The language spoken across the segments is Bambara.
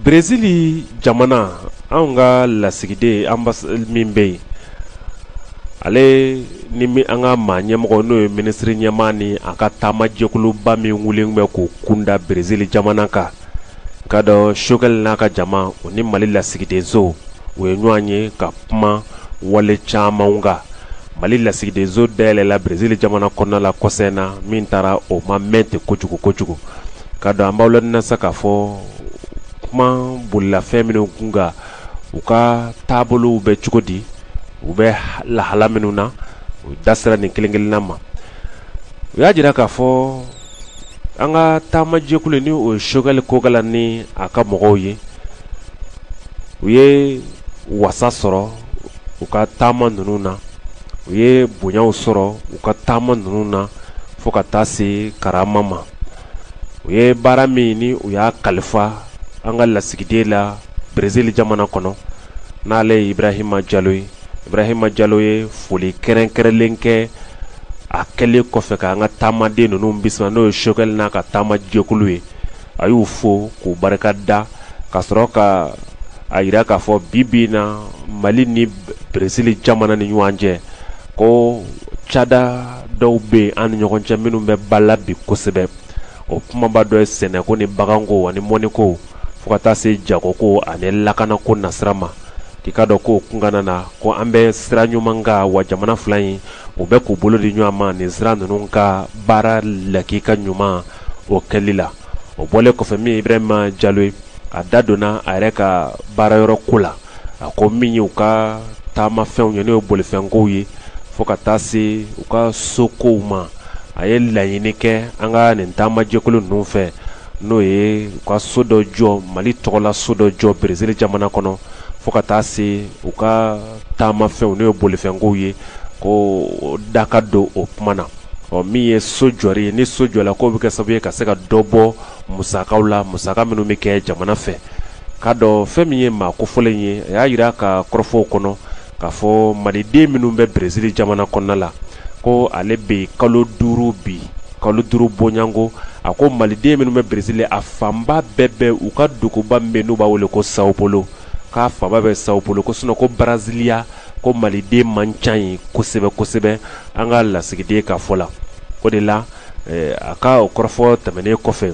Berezili jamana an ka lasigiden an min bɛ yen ale ni an ka maa ɲɛmɔgɔ n'o ye minisiri ɲɛmaa ni a ka taamajɛkuluba min wulilen bɛ k'u kunda berezili jamana kan ka dɔn sokɛli n'a ka jama o ni mali lasigidenso u ye ɲɔgɔn ye ka kuma wale caman kan mali lasigidenso dayɛlɛla berezili jamana kɔnɔna la kɔsa in na min taara o ma mɛn ten kojugu kojugu ka dɔn an b'aw ladɔnniya sa k'a fɔ kuma bolila fɛn minnu kun kan u ka taabolow bɛ cogo di u bɛ lahala minnu na u da sera nin kelen-kelenna ma u y'a jira k'a fɔ an ka taamajɛkulu ni o ye sokɛli kokala ni a ka mɔgɔw ye u ye wasa sɔrɔ u ka taama ninnu na u ye bonyaw sɔrɔ u ka taama ninnu na fo ka taa se karama ma u ye baara min ni u y'a kalifa an ka lasigiden la berezili jamana kɔnɔ n'ale ye ibrahima jalo ye ibrahima jalo ye foli kɛrɛnkɛrɛnlen kɛ a kɛlen kɔfɛ ka an ka taamaden ninnu bisimila n'o ye sokɛli n'a ka taama jɛkulu ye a y'u fo k'u barika da ka sɔrɔ ka a jira k'a fɔ bi bi in na mali ni berezili jamana ni ɲɔgɔn cɛ ko cada dɔw bɛ yen an ni ɲɔgɔn cɛ minnu bɛ ba la bi kosɛbɛ o kumaba dɔ ye sɛnɛko ni baganko ani mɔniko fo ka taa se jagoko ani lakanako nasira ma k'i ka dɔn ko kunkanana na ko an bɛ sira ɲuman kan wa jamana fila in u bɛ k'u bolo di ɲɔgɔn ma nin sira ninnu ka baara lakika ɲuman o kɛli la o bɔlen kɔfɛ min ibrahima jalo ye a da donna a yɛrɛ ka baara yɔrɔ ko la a ko min ye u ka taamafɛnw ye n'o ye bolifɛnkow ye fo ka taa se u ka sokow ma a ye laɲini kɛ an ka nin taamajɛkulu ninnu fɛ n'o ye u ka so dɔ jɔ mali tɔgɔla so dɔ jɔ berezili jamana kɔnɔ fo ka taa se u ka taamafɛnw n'o ye bolifɛnkow ye k'u da ka don o kuma na ɔ min ye so jɔri ye ni so jɔla k'o bɛ kɛ sababu ye ka se ka dɔ bɔ musakaw la musaka minnu bɛ kɛ jamana fɛ k'a dɔn fɛn min ye maa kofɔlen ye a y'a jira ka kɔrɔfɔw kɔnɔ k'a fɔ maliden minnu bɛ berezili jamana kɔnɔna la ko ale bɛ kalo duuru bi kalo duuru bɔ yan ko a ko maliden minnu bɛ berezili a fanba bɛɛ bɛ u ka duguba min n'u b'a wele ko sao polo k'a fanba bɛ sao polo ko sinɔn ko baraziliya ko maliden man ca yen kosɛbɛ kosɛbɛ an ka lasigiden ka fɔ la o de la a ka o kɔrɔfɔ tɛmɛnen kɔfɛ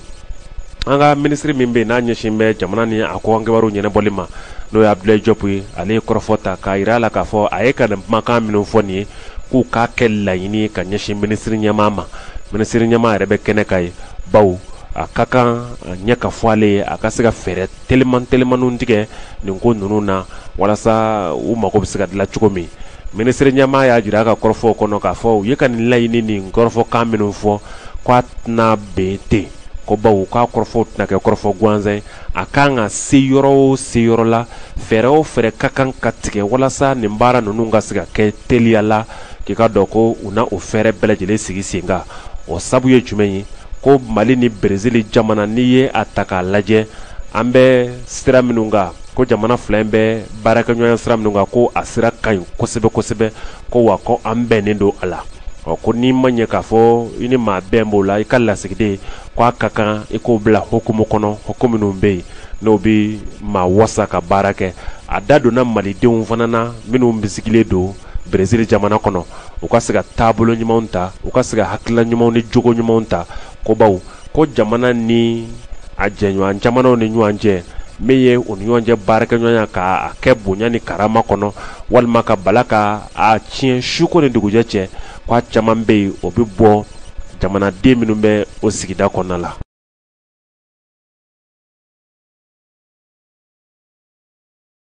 an ka minisiri min bɛ n'a ɲɛsin bɛ jamana ni a kɔkan kibaru ɲɛnabɔli ma n'o ye abudulayi jɔpu ye ale ye kɔrɔfɔ ta k'a jira a la k'a fɔ a ye ka nin kumakan minnu fɔ nin ye k'u k'a kɛ laɲini ka ɲɛsin minisiri ɲɛmaa ma minisiri ɲɛmaa yɛrɛ bɛ kɛnɛ kan yen bawo a ka kan a ɲɛ ka fɔ ale ye a ka se ka fɛɛrɛ teliman telimanw tigɛ nin ko ninnu na walasa u mago bɛ se ka dilan cogo min minisiri ɲɛmaa y'a jira a ka kɔrɔfɔw kɔnɔ k'a fɔ u ye ka nin laɲini nin kɔrɔfɔkan minnu fɔ k'a tɛna bɛn ten ko bawo k'a kɔrɔfɔw tɛna kɛ kɔrɔfɔ gansan ye a kan ka se yɔrɔ o se yɔrɔ la fɛɛrɛ o fɛɛrɛ ka kan ka tigɛ walasa nin baara ninnu ka se ka kɛ teliya la k'i k'a dɔn ko u na o fɛɛrɛ bɛɛ lajɛlen sigi sen kan o sabu ye jumɛn ye ko mali ni berezili jamana n'i ye a ta k'a lajɛ an bɛ sira minnu kan ko jamana fila in bɛ baarakɛɲɔgɔnya sira minnu kan ko a sira ka ɲi kosɛbɛ kosɛbɛ ko wa ko an bɛnnen don a la ɔ ko n'i ma ɲɛ k'a fɔ i ni maa bɛn b'o la i ka lasigiden ko a ka kan i k'o bila hukumu kɔnɔ hukumu minnu bɛ yen n'o bɛ maa wasa ka baara kɛ a da donna malidenw fana na minnu basigilen don Brésil jamana kɔnɔ u ka se ka taabolo ɲumanw ta u ka se ka hakilila ɲumanw ni jogo ɲumanw ta ko bawo ko jamana ni a jɛɲɔgɔn jamanaw ni ɲɔgɔn cɛ min ye u ni ɲɔgɔn cɛ baarakɛɲɔgɔnya k'a kɛ bonya ni karama kɔnɔ walima ka bala ka a tiɲɛ suko ni dugujɛ cɛ ko a caman bɛ yen o bɛ bɔ jamanaden minnu bɛ o sigida kɔnɔna la